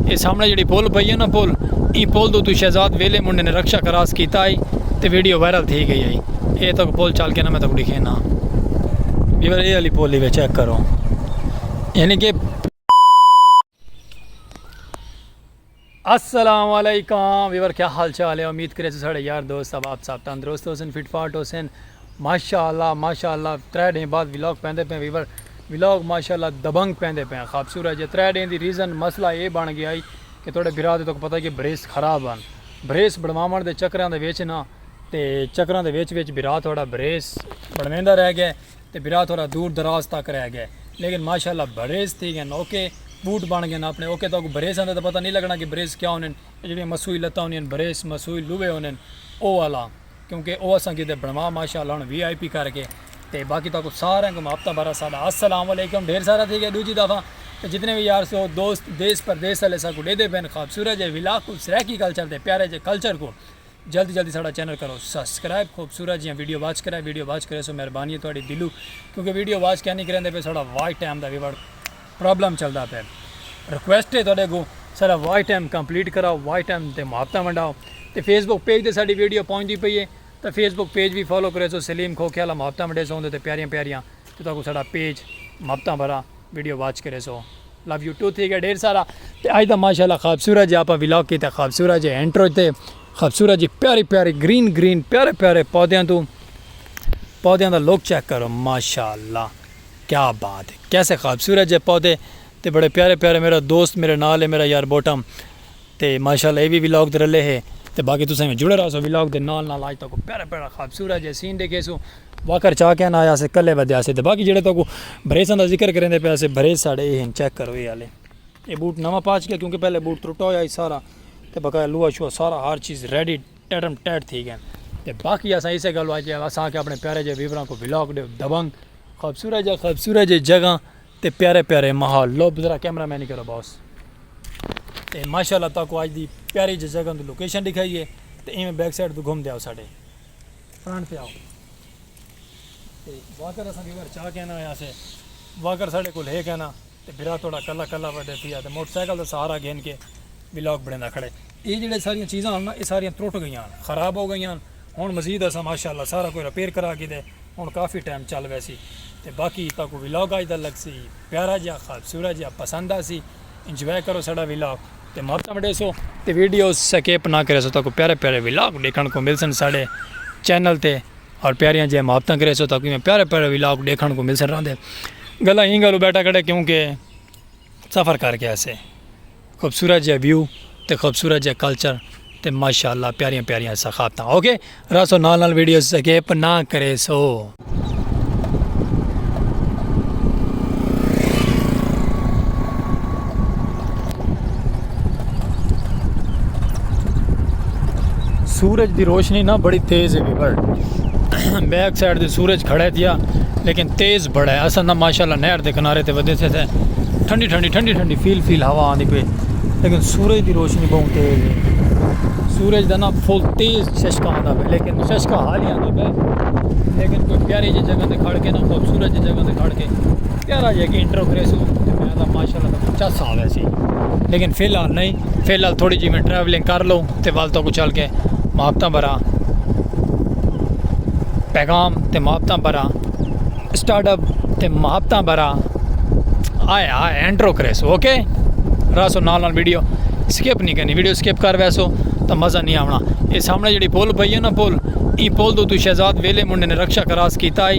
اے سامنے جیڑی پل پئی ہے نا پل ایں پل دو تو شہزاد ویلے منڈے نے رکشا کراس کیتا آئی تے ویڈیو وائرل تھی گئی آئی اے تک پل چل کے نا میں تک دکھے نا بیور اے علی پولی وے چیک کرو یعنی کہ السلام علیکم ویور کیا حال چال ہے امید کرے سے ساڑے یار دوست اب آپ صاحب تندرست ہو سن فٹ فاٹ ہو سن ماشاء اللہ ماشاء اللہ ترے ڈینھ بعد ولاگ پیندے پئے ویور ولاگ ماشاء اللہ دبنگ پیندے پئے خابسورج ہے ترے ڈینھ دی ریزن مسئلہ اے بن گیا ہی کہ تہاڈے بھرا تے تہاکوں پتہ ہی کہ بھریس خراب ہن بھریس بنواون دے چکراں دے وچ نا تے چکراں دے وچ وچ بھرا تہاڈا بھریس بنویندا رہ گئے تے بھرا تہاڈا دور دراز تک رہ گئے لیکن ماشاء اللہ بھریس تھی گئے اوکے بوٹ بن گئے اپنے اوکے تہاکوں بھریساں دا تے پتہ نی لگنا کہ بھریس کیا ہوندے اے جیڑھیاں مسوئی لتاں ہوندیاں بھریس مسوئی لوہے ہوندے او والا۔ کیونکہ او اساں کیتے بنوا ماشاءاللہ ہن وی آئی پی کر کے تے باقی تاکو سارے کو ماپتا بھرا ساڈا السلام علیکم ڈھیر سارا تھی گیا دوجی دفعہ تے جتنے بھی یار سو دوست دیس پردیس والے سا کو ڈے دے بین خوبصورت جے ولاگ کو سرائیکی کلچر دے پیارے جے کلچر کو جلدی جلدی ساڈا چینل کرو سبسکرائب خوبصورت جی ویڈیو واچ کرے ویڈیو واچ کرے سو مہربانی ہے تہاڈی دلو کیونکہ ویڈیو واچ کیا نہیں کریں دے پے ساڈا واچ ٹائم دا ویورڈ پرابلم چلدا پئے ریکویسٹ ہے تہاڈے اگوں سارا واچ ٹائم کمپلیٹ کراؤ واچ ٹائم تے محبتاں ونڈاؤ تے فیس بک پیج تے ساڈی ویڈیو پہنچدی پئی ہے تے فیس بک پیج بھی فالو کرے سو سلیم کھوکھے والا محبتاں ونڈے سو اوندے تے پیاریاں پیاریاں تے تہاکوں ساڈا پیج محبتاں بھرا ویڈیو واچ کرے سو لو یو ٹو تھی گیا ڈھیر سارا تے اج دا ماشاءاللہ خوبصورت جے اپا ولاگ کیتا خوبصورت جے انٹرو تے خوبصورت جی پیاری پیاری گرین گرین پیارے پیارے پودیاں تو پودیاں دا لوک چیک کرو ماشاءاللہ کیا بات ہے کیسے خوبصورت جے پودے تے بڑے پیارے پیارے میرا دوست میرے نال ہے میرا یار بوٹم تے ماشاءاللہ اے وی ولاگ تے رلے ہے تے باقی تساں ایویں جڑے رہسو ولاگ دے نال نال آج تاکوں پیارا پیارا خوبصورت جے سین ڈیکھیسو واکر چا کین آیا سے کلے ودیا سے تے باقی جڑے تاکوں بریساں دا ذکر کریندے پیا سے بریس ساڈے اے ہن چیک کرو اے آلے اے بوٹ نواں پاچ گیا کیونکہ پہلے بوٹ ترٹا ہویا ہی سارا تے بقایا لوہا شوہا سارا ہر چیز ریڈی ٹیٹم ٹیٹ تھی گئے تے باقی اساں اسے گل واج اساں آکھیا اپنے پیارے جے ویوراں کو ولاگ ڈیو دبنگ خوبصورت جا خوبصورت جے جگہ تے پیارے پیارے محل لو بزرا کیمرہ مین کرو باس تے ماشاءاللہ تو کو آج دی پیاری جے جگہ دی لوکیشن دکھائی ہے تے ایویں بیک سائیڈ تو گھوم دے آؤ ساڈے فرنٹ تے آؤ تے واکر اساں کے گھر چا کہنا ہے اسے واکر ساڈے کول ہے کہنا تے بھرا تہاڈا کلا کلا وڈے پیا تے موٹر سائیکل دا سہارا گھن کے ولاگ بنیندا کھڑے اے جیڑھے ساریاں چیزاں ہن نا اے ساریاں ترٹ گئیاں ہن خراب ہو گئیاں ہن ہن مزید اساں ماشاءاللہ سارا کوئی رپیئر کرا گھدے ہن کافی ٹائم چل ویسی تے باقی تہاکوں ولاگ اج دا لگسی پیارا جیہا خوبصورت جیہا پسند آسی انجوائے کرو ساڈا ولاگ تے ماکا وڈیسو تے ویڈیوز سکیپ نا کریسو تہاکوں پیارے پیارے ولاگ ڈیکھن کوں ملسن ساڈے چینل تے۔ اور پیاریاں جیہاں محبتاں کرے سو تاکہ میں پیارے پیارے ولاگ دیکھن کو مل سر رہا دے گلا ہی گلو بیٹا کھڑے کیونکہ سفر کر کے ایسے خوبصورت جہ ویو تے خوبصورت جہ کلچر تے ماشاءاللہ پیاریاں پیاریاں ثقافتاں اوکے راسو نال نال ویڈیوز سکیپ نہ کرے سو سورج دی روشنی نا بڑی تیز ہے ویور بیک سائیڈ دے سورج کھڑا ہے تیا لیکن تیز بڑا ہے اصل نا ماشاءاللہ نہر دے کنارے تے ودے تھے تھے ٹھنڈی ٹھنڈی ٹھنڈی ٹھنڈی فیل فیل ہوا آندی پہ لیکن سورج دی روشنی بہت تیز ہے سورج دا نا فل تیز ششکا آندا پہ لیکن ششکا حال ہی آندا پہ لیکن کوئی پیاری جی جگہ تے کھڑ کے نا خوبصورت جی جگہ تے کھڑ کے پیارا جا انٹرو کرے سو تے میں دا ماشاءاللہ تاں کو چس آوے سی لیکن فی الحال نہیں فی الحال تھوڑی جی میں ٹریولنگ کر لوں تے وال تو کو چل کے محبتاں بھرا پیغام تے محبتاں بھرا سٹارٹ اپ تے محبتاں بھرا آئے آئے انٹرو کرے سو اوکے راسو نال نال ویڈیو سکپ نہیں کرنی ویڈیو سکپ کر ویسو تو مزہ نہیں آونا یہ سامنے جڑی پول پئی ہے نا پول ای پول تو تو شہزاد ویلے منڈے نے رکشا کراس کیتا ہے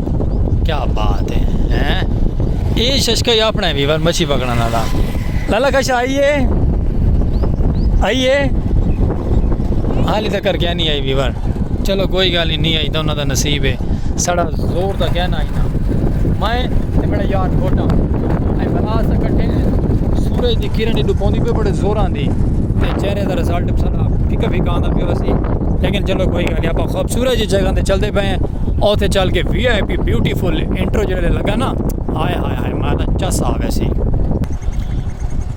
کیا بات ہے ہیں اے ششکا ہی اپنا ہے ویور مچھی پکڑا نا دا لالا کشا آئیے آئیے حالی تک کر کیا نہیں آئی ویور چلو کوئی گالی نہیں آئی تو انہوں دا نصیب ہے سڑا زور دا کیا نہ آئی نا میں تے میرا یار گھوٹا اے بلا سا کٹھے سورج دی کرن ایڈو پوندی پہ بڑے زور آن دی تے چہرے دا رزالٹ سڑا پھکا پھکا آن دا پہ وسی لیکن چلو کوئی گالی آپ خوبصورت جگہ دے چل دے پہ ہیں اوتھے چل کے V I P beautiful intro جڑے لگا نا ہائے ہائے ہائے میں تو چس آ ویسی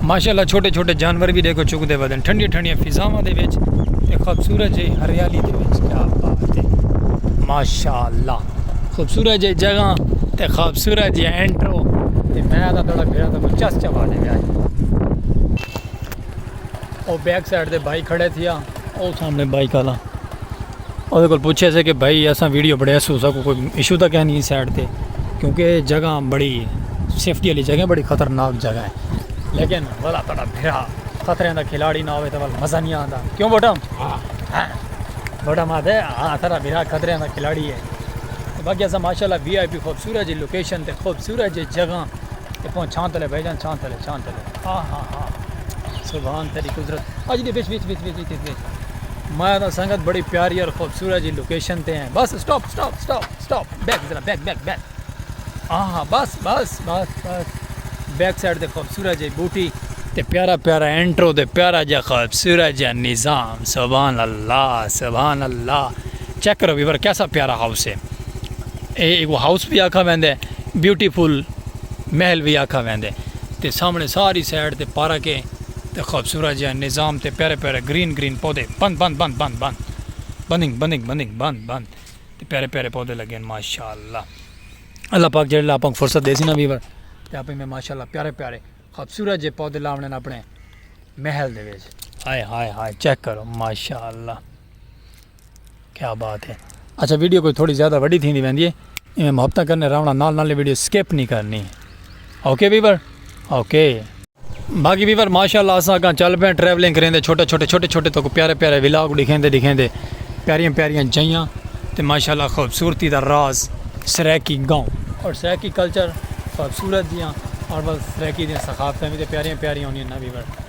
ماشاءاللہ چھوٹے چھوٹے جانور بھی دیکھو چک دے ودن ٹھنڈی ٹھنڈی فضاواں دے وچ تے خوبصورت جی ہریالی دے وچ کیا بات ہے ماشاءاللہ خوبصورت جی جگہ تے خوبصورت جی انٹرو تے میں دا تھوڑا بھیڑا تو چس چوا دے گیا او بیک سائیڈ دے بھائی کھڑے تھیا او سامنے بھائی کالا اودے کول پوچھے سے کہ بھائی اساں ویڈیو بڑے اسو سکو کوئی ایشو تک ہے نہیں سائڈ تے کیونکہ جگہ بڑی سیفٹی والی جگہ بڑی خطرناک جگہ ہے لیکن والا تڑا بھرا خطرے دا کھلاڑی نہ ہوے تے ول مزہ نہیں آندا کیوں بوٹا ہاں بوٹا ما دے ہاں تڑا بھرا خطرے دا کھلاڑی ہے باقی اساں ماشاءاللہ وی آئی پی خوبصورت جی لوکیشن تے خوبصورت جی جگہ تے پہنچ چھان تلے بھائی جان چھان تلے چھان تلے ہاں ہاں ہاں سبحان تیری قدرت اج دی بیچ بیچ بیچ بیچ بیچ مایا دا سنگت بڑی پیاری اور خوبصورت جی لوکیشن تے ہیں بس stop stop stop stop back ذرا بیک بیک بیک ہاں بس بس بس بس بیک سائڈ تے خوبصورت جی بوٹی تے پیارا پیارا انٹرو تے پیارا جا خوبصورت جا نظام سبحان اللہ سبحان اللہ چیک کرو ویور کیسا پیارا ہاؤس ہے اے ایک وہ ہاؤس بھی آکھا ویندے بیوٹیفل محل بھی آکھا ویندے تے سامنے ساری سائڈ تے پارک ہے تے خوبصورت جیہاں نظام تے پیارے پیارے گرین گرین پودے بند بند بند بند بند بندنگ بندنگ بندنگ بند بند تے پیارے پیارے پودے لگے ہیں ماشاءاللہ اللہ پاک جڑے لاپنگ فرصت دے سی نا ویور تے اپنی میں ماشاءاللہ پیارے پیارے خوبصورت جے پودے لاونے نا اپنے محل دے ویج ہائے ہائے ہائے چیک کرو ماشاءاللہ کیا بات ہے اچھا ویڈیو کوئی تھوڑی زیادہ وڈی تھی ویندی ہے ایویں محبتاں کرنے راونا نال نال ویڈیو سکپ نہیں کرنی اوکے ویور اوکے باقی ویور ماشاءاللہ اساں اگاں چل پے ٹریولنگ کریں دے چھوٹے چھوٹے چھوٹے چھوٹے تو پیارے پیارے ولاگ دکھیں دے دکھیں دے پیاریاں پیاریاں جائیاں تے ماشاءاللہ خوبصورتی دا راز سریکی گاؤں اور سریکی کلچر خوبصورت دیاں اور بس سریکی دیاں ثقافتیں بھی تے پیاریاں پیاریاں ہونیاں نا ویور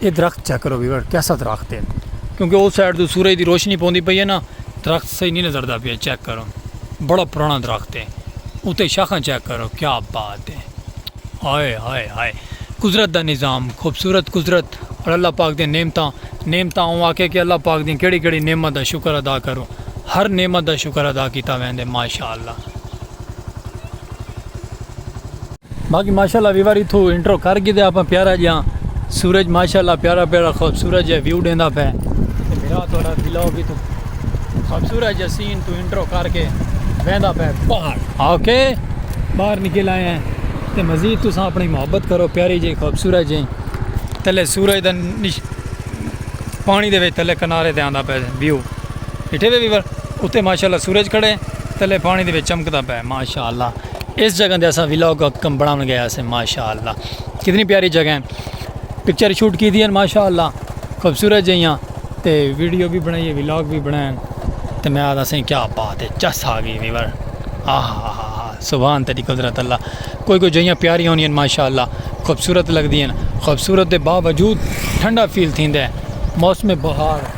اے درخت چیک کرو ویور کیسا درخت ہے کیونکہ او سائیڈ تو سورج دی روشنی پوندی پئی ہے نا درخت صحیح نہیں نظر دا پیا چیک کرو بڑا پرانا درخت ہے اتے شاخاں چیک کرو کیا بات ہے ہائے ہائے ہائے قدرت دا نظام خوبصورت قدرت اور اللہ پاک دے نعمتاں نعمتاں اوں آکھے کہ اللہ پاک دی کیڑی کیڑی نعمت دا شکر ادا کرو ہر نعمت دا شکر ادا کیتا ویندے ماشاءاللہ باقی ماشاءاللہ ویور اتھو انٹرو کر گی دے اپا پیارا جیاں سورج ماشاءاللہ پیارا پیارا خوبصورت جیاں ویو ڈیندا پہ میرا تھوڑا بلاو بھی تو خوبصورت جیاں سین تو انٹرو کر کے بیندا پہ باہر اوکے باہر نکل آئے ہیں تے مزید تو ساں اپنی محبت کرو پیاری جی خوبصورت جی تلے سورج دا نش پانی دے وے تلے کنارے دے آندا پہ ویو اٹھے وے ویور اتے ماشاءاللہ سورج کھڑے تلے پانی دے وچ چمکدا پے ماشاءاللہ اس جگہ دے اسا ویلاگ کم بناون گئے اسے ماشاءاللہ کتنی پیاری جگہ ہیں پکچر شوٹ کی دی ہیں ماشاءاللہ خوبصورت جیاں تے ویڈیو بھی بنائی ہے ویلاگ بھی بنائیں تے میں آدھا سیں کیا بات ہے چس آ گئی ویور آہ آہ سبحان تیری قدرت اللہ کوئی کوئی جیاں پیاری ہونی ہیں ماشاءاللہ خوبصورت لگ دی ہیں خوبصورت دے باوجود ٹھنڈا فیل تھیندے موسم بہار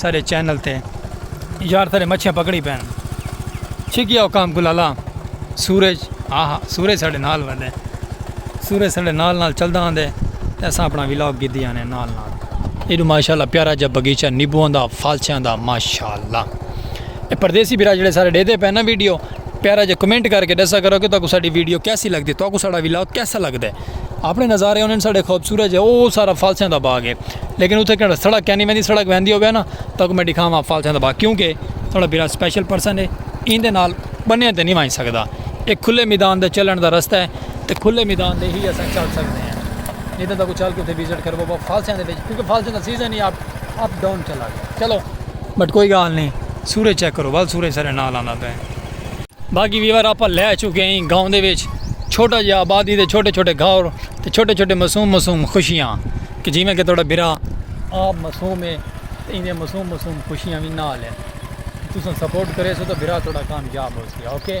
سارے چینل تے یار سارے مچھیاں پکڑی پین چھکیا او کام گلالا سورج آہا سورج ساڑے نال ودے سورج ساڑے نال نال چلدا آندے تے اساں اپنا ولاگ گدی آنے نال نال ایڈو ماشاءاللہ پیارا جا بغیچہ نیبوان دا فالچیاں دا ماشاءاللہ اے پردیسی بیرا جڑے سارے ڈے دے پین نا ویڈیو پیارا جا کمنٹ کر کے ڈسا کرو کہ تاکو ساڑی ویڈیو کیسی لگ دی تاکو ساڑا ولاگ کیسا لگ دے اپنے نظارے انہیں ساڑے خوبصورت جا او سارا فالسیاں دا باغ ہے لیکن اتھے کہنا سڑک کہنی میں دی سڑک ویندی ہو گیا نا تاکو میں دکھاواں فالسیاں دا باغ کیونکہ تھوڑا بیرا سپیشل پرسن ہے این دے نال بنیاں تے نہیں وائن سکتا ایک کھلے میدان دے چلن دا رستہ ہے تے کھلے میدان دے ہی اساں چل سکتے ہیں نہیں تو تاکو چل کے اتھے ویزٹ کرو بابا فالسیاں دے بیچ کیونکہ فالسیاں دا سیزن ہی آپ اپ ڈاؤن چلا گیا چلو بٹ کوئی گالھ نئیں سورج چیک کرو ول سورج ساڈے نال آندا پئے۔ باقی ویور آپاں لہہ چکے ہئیں گاؤں دے وچ چھوٹا جیہا آبادی دے چھوٹے چھوٹے گھر تے چھوٹے چھوٹے معصوم معصوم خوشیاں کہ جیویں کہ تہاڈا بھرا آپ معصوم ہے تے ایندیاں معصوم معصوم خوشیاں وی نال ہن تساں سپورٹ کریسو تاں بھرا تہاڈا کامیاب ہوسی اوکے۔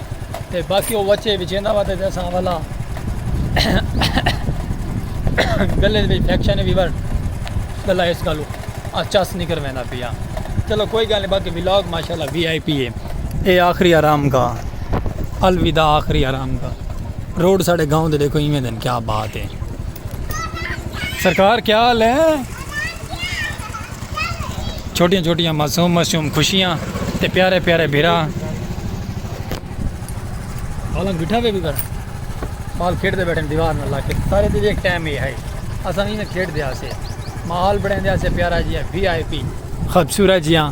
تے باقی او وچے وچیندا وا تے اساں اولا گلے وچ انفیکشن وی ورڈ گلا اس گالو آ چس نکر ویندا پیا چلو کوئی گل نہیں باقی ولاگ ماشاءاللہ وی آئی پی ہے اے آخری آرام کا الوداع آخری آرام کا روڈ ساڑے گاؤں دے دیکھو ایویں دن کیا بات ہے سرکار کیا حال ہے چھوٹیاں چھوٹیاں معصوم معصوم خوشیاں تے پیارے پیارے بھرا بالنگ بٹھا ہوئے بھی کر بال کھیڑ دے بیٹھے دیوار نہ لاکے سارے دے ایک ٹائم ہی ہے اساں نہیں نہ کھیڑ دیا سے ماحول بڑھیں دیا سے پیارا جی ہے وی آئی پی خوبصورت جی ہاں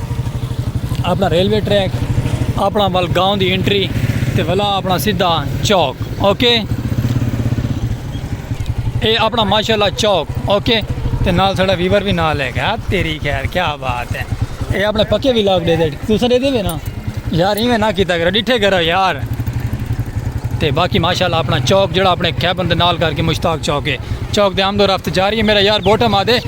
اپنا ریلوے ٹریک اپنا ول گاؤں دی انٹری تے ولا اپنا سیدھا چوک اوکے اے اپنا ماشاءاللہ چوک اوکے تے نال سڑا ویور بھی نال ہے گا تیری خیر کیا بات ہے اے اپنے پکے بھی لاگ دے دے تو سڑے دے بھی نا یار ہی میں نہ کیتا کرا ڈٹھے کرا یار تے باقی ماشاءاللہ اپنا چوک جڑا اپنے کیبن دے نال کر کے مشتاق چوک ہے چوک دے آمد و رفت جاری ہے میرا یار بوٹم آدھے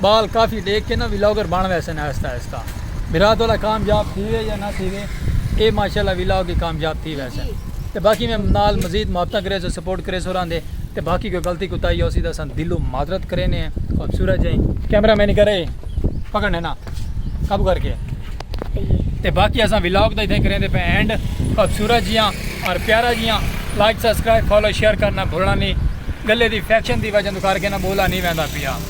بال کافی ڈیکھ کے نا ولاگر بن ویسن آہستہ آہستہ بھرا تھوڑا کامیاب تھیوے یا نہ تھیوے اے ماشاءاللہ ولاگ ہی کامیاب تھی ویسن تے باقی میں نال مزید محبتاں کریسو سپورٹ کریسو راندے تے باقی کوئی غلطی کوتاہی ہوسی تاں اساں دلوں معذرت کرینے ہیں خوبصورت جئیں کیمرہ مین کرے پکڑنے نا قابو کر کے تے باقی اساں ولاگ دا اتھے کریندے پے اینڈ خوبصورت جیاں اور پیارا جیاں لائک سبسکرائب فالو شیئر کرنا بھولنا نہیں گلے دی فیکشن دی وجہ تو کر کے نا بولا نہیں ویندا پیا